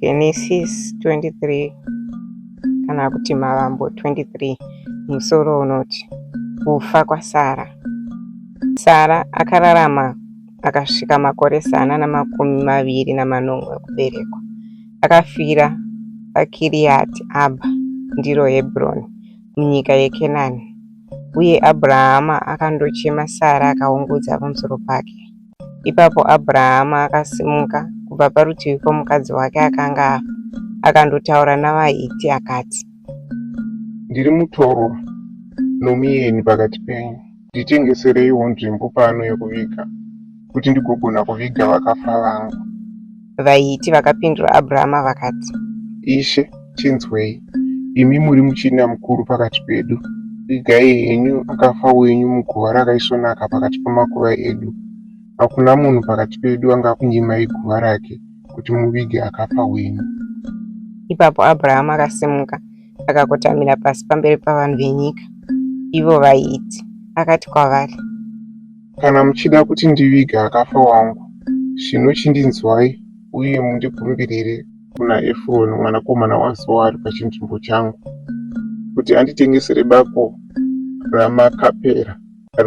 Genesis 23 kana kuti Mavambo 23 musoro unoti kufa kwaSara. Sara akararama akasvika makore zana namakumi maviri namanomwe okuberekwa. Akafira paKiriati Abha, ndiro Hebroni, munyika yeKenani. Uye Abrahama akandochema Sara akaungudza pamusoro pake. Ipapo Abrahama akasimuka kubva parutivi pomukadzi wake akanga afa, akandotaura navaHiti akati, Ndiri mutorwa nomuyeni pakati penyu, nditengesereiwo nzvimbo pano yokuviga, kuti ndigogona kuviga vakafa vangu. vaHiti vakapindura Abhurama vakati, Ishe, tinzwei, imi muri muchinda mukuru pakati pedu. Vigai henyu akafa wenyu muguva rakaisvonaka pakati pamakuva edu. Hakuna munhu pakati pedu angakunyimai guva rake kuti muvige akafa wenyu. Ipapo Abhurahama akasimuka akakotamira pasi pamberi pavanhu venyika, ivo vaiti, akati kwavari, Kana muchida kuti ndivige akafa wangu, zvino chindinzwai uye mundigumbirire kuna Efuroni mwanakomana waZohari pachinzvimbo changu, kuti anditengesere bako raMakapera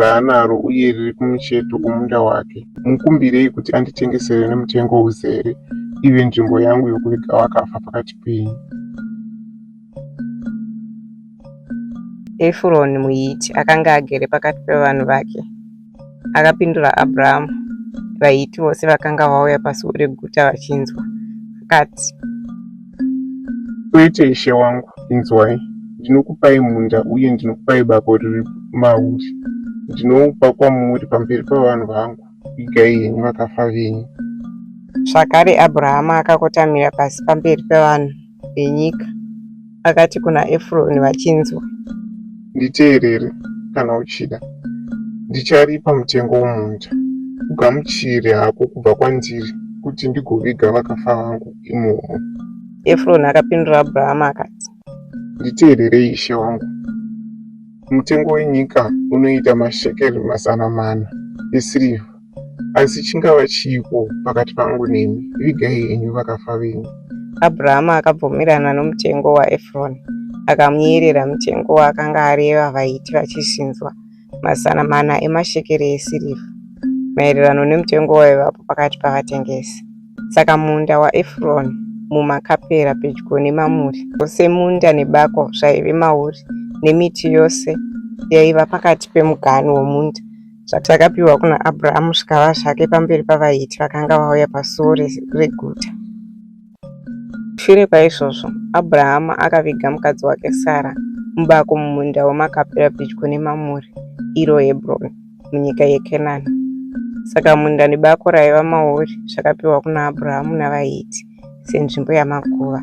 raanaro uye riri kumucheto kwomunda wake. Mukumbirei kuti anditengesere nemutengo uzere, ive nzvimbo yangu yokuviga vakafa pakati penyu. Efuroni muHiti akanga agere pakati pevanhu vake. Akapindura Abrahamu, vaHiti vose vakanga vauya pasuo reguta vachinzwa, akati, Kwete, ishe wangu, inzwai, ndinokupai munda uye ndinokupai bako riri mauri, ndinoupa kwamuri pamberi pavanhu vangu, vigai henyu vakafa venyu. Zvakare Abrahamu akakotamira pasi pamberi pevanhu. venyika, akati kuna Efuroni vachinzwa. Nditeerere kana uchida, ndicharipa mutengo womunda. Ugamuchire hako kubva kwandiri kuti ndigoviga vakafa vangu imomo. Efuroni akapindura Abhurahama akati. Nditeererei ishe wangu, mutengo wenyika unoita mashekeri mazana mana esirivha asi chingava chiiko pakati pangu nemi vigai henyu vakafa venyu abrahama akabvumirana nomutengo waefroni akamuyerera mutengo waakanga areva vaiti vachizvinzwa mazana mana emashekere esirivha maererano nemutengo waivapo pakati pavatengesi saka munda waefroni mumakapera pedyo nemamuri ose munda nebako zvaive mauri nemiti yose yaiva pakati pemuganhu womunda zvatakapiwa kuna Abrahamu zvikava zvake pamberi pavaHiti vakanga vauya pasuo reguta. Shure kwaizvozvo, Abrahamu akaviga mukadzi wake Sara mubako mumunda weMakapera pedyo neMamure, iro Hebroni, munyika yeKenani. Saka munda nebako raiva mauri zvakapiwa kuna Abrahamu navaHiti senzvimbo yamakuva.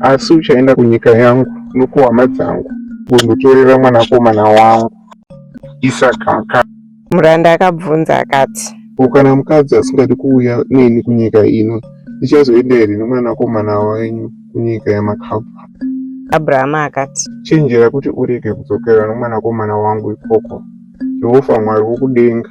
asi uchaenda kunyika yangu nokuhama dzangu undotorera mwanakomana wangu isakaka muranda akabvunza akati ko kana mukadzi asingadi kuuya neni kunyika ino ndichazoenda here nomwanakomana wenyu kunyika yamakabva abrahama akati chenjera kuti urege kudzokera nomwanakomana wangu ikoko jehovha mwari wokudenga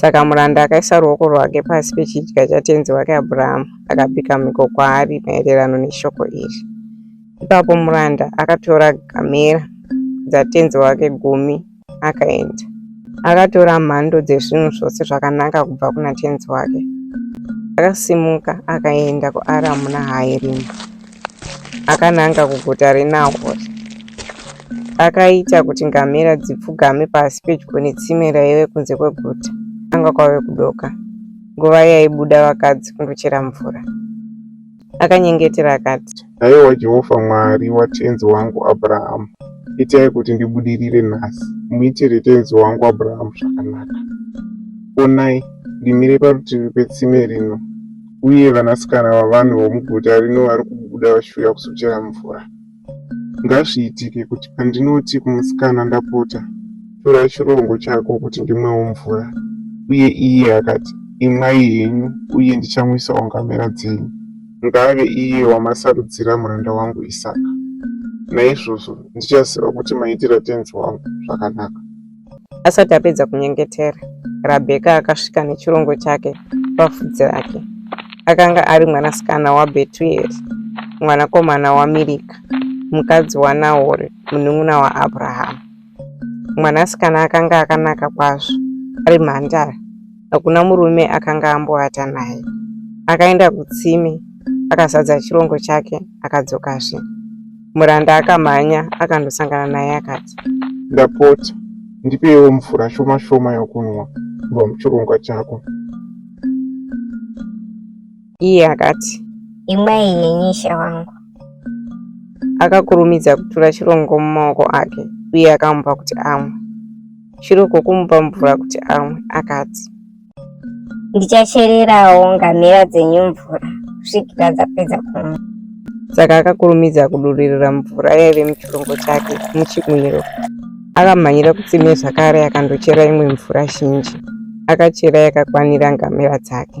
Saka muranda akaisa ruoko rwake pasi pechidya chatenzi wake Abhurahamu, akapika mhiko kwaari maererano neshoko iri. Ipapo muranda akatora gamera dzatenzi wake gumi akaenda. Akatora mhando dzezvinhu zvose zvakanaka kubva kuna tenzi wake. Akasimuka akaenda kuAramu Nahayerimu. akananga kuguta reNahori. Akaita kuti ngamera dzipfugame pasi pedyo netsime raive kunze kweguta. Anga kwave kudoka, nguva yaibuda vakadzi kundochera mvura. Akanyengetera akati, Haiwa Jehovha Mwari watenzi wangu Abrahamu, itai kuti ndibudirire nhasi, muitire tenzi wangu Abrahamu zvakanaka. Onai, ndimire parutivi petsime rino, uye vanasikana vavanhu vomuguta rino vari kubuda vachiuya kuzochera mvura. Ngazviitike kuti pandinoti kumusikana, Ndapota, tora chirongo chako kuti ndimwewo mvura, uye iye akati, Imwai henyu, uye ndichamwisawo ngamera dzenyu, ngaave iye wamasarudzira muranda wangu Isaka. Naizvozvo ndichaziva kuti maitira tenzi wangu zvakanaka. Asati apedza kunyengetera, Rabheka akasvika nechirongo chake pafudzi rake. Akanga ari mwanasikana waBhetueri, mwanakomana waMirika, mukadzi waNahori, munun'una waAbrahamu. Mwanasikana akanga akanaka kwazvo, ari mhandara, hakuna murume akanga amboata naye. Akaenda kutsime akazadza chirongo chake akadzokazve. Muranda akamhanya akandosangana naye akati, Ndapota, ndipewo mvura shoma shoma yokunwa kubva muchirongo chako. Iye akati, Imwai neni ishe wangu. Akakurumidza kutura chirongo mumaoko ake uye akamupa kuti amwe. chiri uko kumupa mvura kuti amwe akati ndichachererawo ngamira dzenyu mvura kusvikira dzapedza kumwa saka akakurumidza kuduririra mvura yaive muchirongo chake muchimwiro akamhanyira kutsime zvakare akandochera imwe mvura zhinji akachera yakakwanira ngamera dzake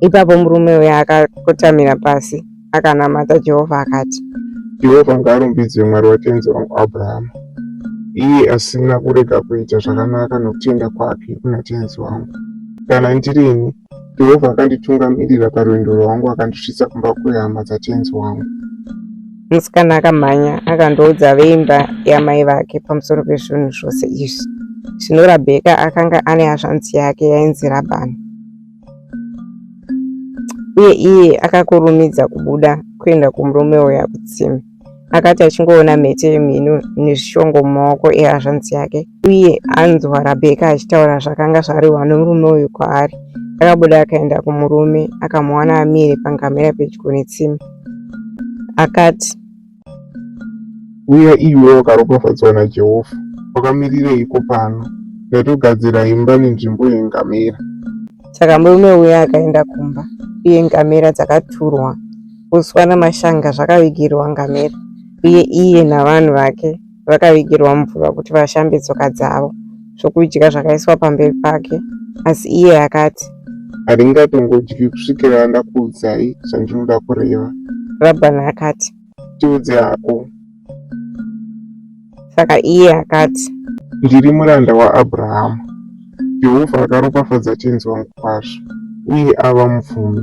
Ipapo murume uya akakotamira pasi akanamata Jehovha akati, Jehovha ngaarumbidzwe Mwari watenzi wangu Abrahama, iye asina kurega kuita zvakanaka nokutenda kwake kuna tenzi wangu. Kana ndirini, Jehovha akanditungamirira parwendo rwangu akandisvitsa kumba kwehama dzatenzi wangu. Musikana akamhanya akandoudza veimba yamai vake pamusoro pezvinhu zvose izvi. Zvino Rabheka akanga ane hazvanzi yake yainzi Rabhani. uye iye akakurumidza kubuda kuenda kumurume uya kutsime akati achingoona mhete yemhino nezvishongo mumaoko ehazvanzi yake uye anzwa rabheka achitaura zvakanga zvarehwa nomurume uyu kwaari akabuda akaenda kumurume akamuwana amire pangamera pedyo netsime akati Uya iwe wakaropafadzwa naJehovha, wakamirireiko pano? Ndatogadzira imba nenzvimbo yengamera. Saka murume uya akaenda kumba, uye ngamera dzakaturwa, uswa namashanga zvakavigirwa ngamera, uye iye navanhu vake vakavigirwa mvura kuti vashambe tsoka dzavo zvokudya zvakaiswa pamberi pake asi iye akati handingatongodyi kusvikira ndakuudzai zvandinoda kureva rabhani akati tiudze hako saka iye akati ndiri muranda waabrahamu jehovha akaropafadza tenzi wangu kwazvo uye ava mupfumi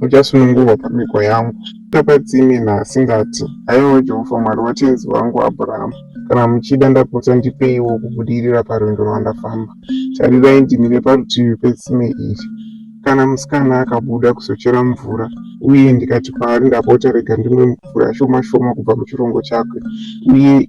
Uchasunungurwa pamhiko yangu. Tapatsime naasingati, Haiwa Jehovha Mwari watenzi wangu Abhurahamu, kana muchida ndapotsa ndipeiwo kubudirira parwendo rwandafamba. Tarirai ndimire parutivi petsime iri. Kana musikana akabuda kuzochera mvura, uye ndikati kwaari, Ndapota rega ndimwe mvura shoma shoma kubva muchirongo chake, uye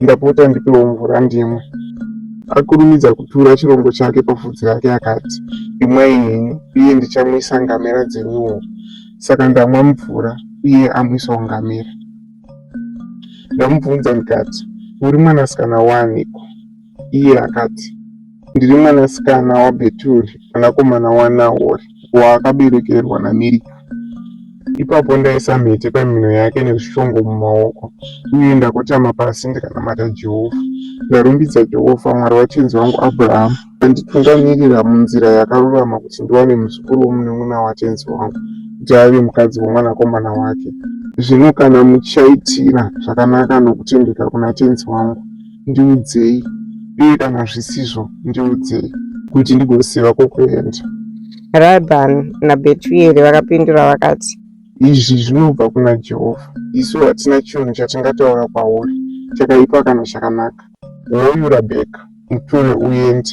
ndapota ndipewo mvura ndimwe. Akurumidza kutura chirongo chake pafudzi rake akati, Imwai henyu, uye ndichamwisa ngamera dzenyuwo. Saka ndamwa mvura, uye amwisawo ngamera. Ndamubvunza ndikati, Uri mwanasikana waaniko? Iye akati, Ndiri mwanasikana waBheturi mwanakomana waNahori, waakaberekerwa naMirika. Ipapo ndaisa mhete pamhino yake nezvishongo mumaoko, uye ndakotama pasi ndikanamata Jehovha. Ndarumbidza Jehovha, Mwari watenzi wangu Abrahamu, akanditungamirira munzira yakarurama kuti ndiwane muzukuru womunun'una watenzi wangu, kuti ave mukadzi womwanakomana wake. Zvino kana muchaitira zvakanaka nokutendeka kuna tenzi wangu, ndiudzei uye kana zvisizvo ndiudzei kuti ndigoziva kwokuenda rabhan nabetueri vakapindura vakati izvi zvinobva kuna jehovha isu hatina chinhu chatingataura kwauri chakaipa kana chakanaka hoyu rabheka mutore uende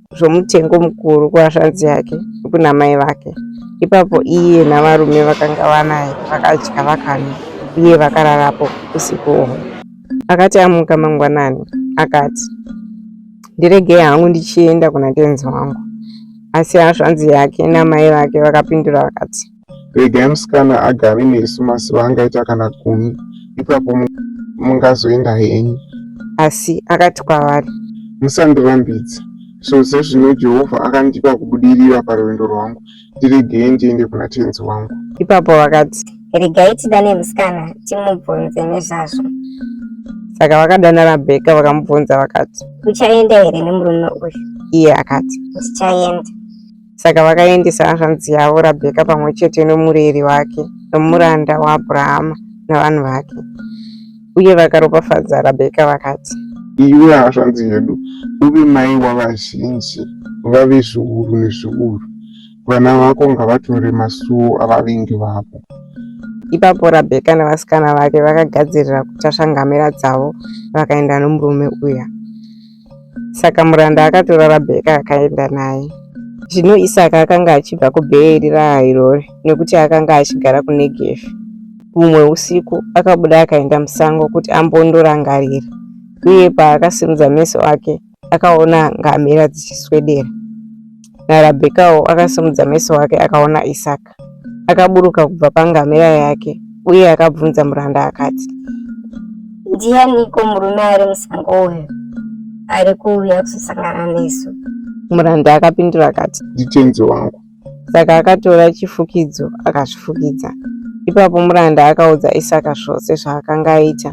zvomutengo mukuru kuhashanzi yake kuna mai vake. Ipapo iye navarume vakanga vanaye vakadya vakanwa, uye vakararapo usiku uhwo. Akati amuka mangwanani, akati, Ndiregei hangu ndichienda kuna tenzi wangu. Asi hashanzi yake namai vake vakapindura vakati, regai musikana agare nesu mazuva angaita kana gumi ipapo mungazoenda henyu asi akati kwavari musandirambidze so sezvino jehovha akandipa kubudirira parwendo rwangu ndiregei ndiende kuna tenzi wangu ipapo vakati regai tidane musikana timubvunze nezvazvo saka vakadana rabheka vakamubvunza vakati uchaenda here nemurume uyu iye akati ndichaenda Saka vakaendesa hanzvanzi yavo Rabheka pamwe chete nomureri wake nomuranda waAbrahama navanhu vake, uye vakaropafadza Rabheka vakati, Iwe hanzvanzi yedu, uve mai wavazhinji, vave zviuru nezviuru, vana vako ngavatore masuo avavengi vavo. Ipapo Rabheka navasikana vake vakagadzirira kutasva ngamera dzavo vakaenda nomurume uya. Saka muranda akatora Rabheka akaenda naye. Zvino Isaka akanga achibva kuBheeri raHairori nekuti akanga achigara kuNegevi. Humwe usiku akabuda akaenda musango kuti ambondorangarira, uye paakasimudza meso ake akaona ngamera dzichiswedera. NaRabhekawo akasimudza meso ake akaona Isaka. Isaka akaburuka kubva pangamera yake uye akabvunza muranda akati, Ndianiko murume ari musango uyu ari kuuya kuzosangana nesu? Muranda akapindura akati, Nditenzi wangu. Saka akatora chifukidzo akazvifukidza. Ipapo muranda akaudza Isaka zvose zvaakanga aita.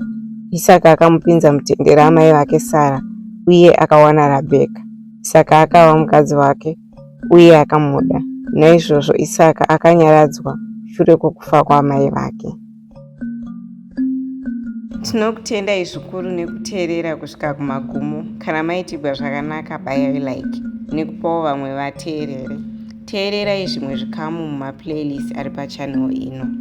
Isaka akamupinza mutende ramai vake Sara uye akawana Rabheka. Isaka akava mukadzi wake uye akamuda. Naizvozvo Isaka akanyaradzwa shure kwokufa kwaamai vake. Tinokutendai zvikuru nekuteerera kusvika kumagumo. Kana maitigwa zvakanaka, bayai like nekupawo vamwe vateerere. Teererai zvimwe zvikamu mumaplaylist ari pachanel ino.